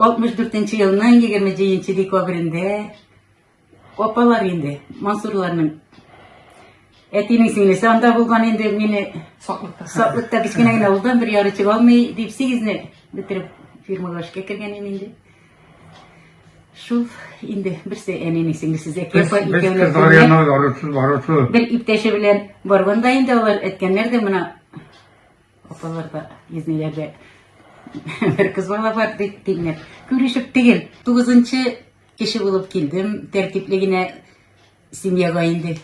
64 елның 27 декабрендә апалар инде, Мансурларның әтинең сеңлесе анда булган инде мине саклыкта саклыкта кечкенә генә улдан бер яры чыга алмый дип сигезне бетереп фирмага эшкә кергән идем инде шул инде берсе әнинең сеңлесе зәкияпа икәүләп бер иптәше белән барганда инде алар әткәннәр дә мына Апаларга изнеләргә бер кыз бала бар дип тиңләп. Күрешеп тегел. Тугызынчы кеше булып килдем. Тәртипле генә семьяга инде.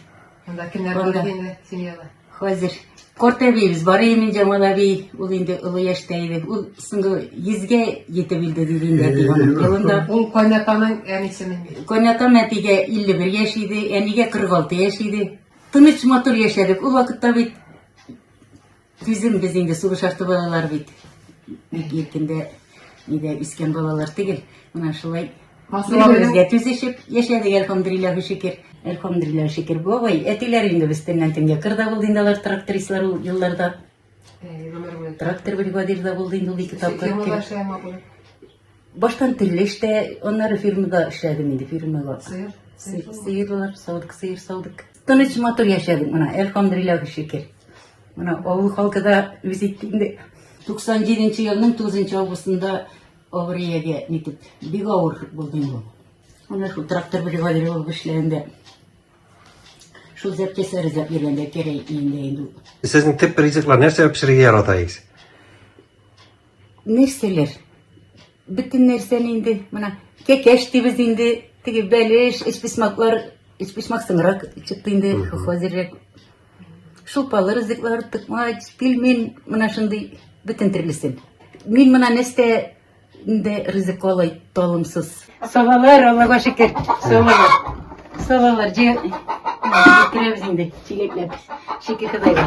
Анда кемнәр бар инде семьяда? Хәзер Корт әбиебез бар иде, Җамал әби, ул инде олы яшьтә иде. Ул соңгы йөзгә җитеп үлде диде инде әти аның елында. Ул кайнатаның әнисе мени? Кайнатам әтигә 51 яшь иде, әнигә 46 яшь иде. Тыныч матур яшәдек. Ул вакытта бит Түзем без инде сугыш арты балалар бит. Бик иркендә нидә үскән балалар түгел. Менә шулай Бер-беребезгә түзешеп яшәдек, әлхәмдулиллаһ шөкер. Әлхәмдулиллаһ шөкер. Бабай, әтиләр инде без төннән төнгә кырда булды инде алар трактористлар ул елларда. Трактор бригадирда булды инде ул ике тапкыр. Баштан телле эштә, аннары фирмада эшләдем инде, фирмада. Сыерлар, савдык, сыер савдык. Тыныч матур яшәдек менә, әлхамдулилла шөкер. Менә авыл халкы да үз иткәндә 97 елның 9 августында авыриягә итеп бик авыр булды бу. Менә шул трактор бригадиры булып эшләгәндә шул зәпкәсә ризап йөргәндә кәрәй инде инде. Сезнең төп ризыклар нәрсә пешерергә яратасыз? нәрсәләр бөтен нәрсәне инде менә кәкәш дибез инде теге бәлеш эчписмаклар эчписмак соңрак чыкты инде хозеррәк шулпалы ризыклар тыкмач пельмень менә шундый бөтен төрлесен мин менә нәрсә инде ризык алай талымсыз сабалар аллага шөкер сабалар сабалар җыйдырабыз инде чиләкләп шөкер ходайга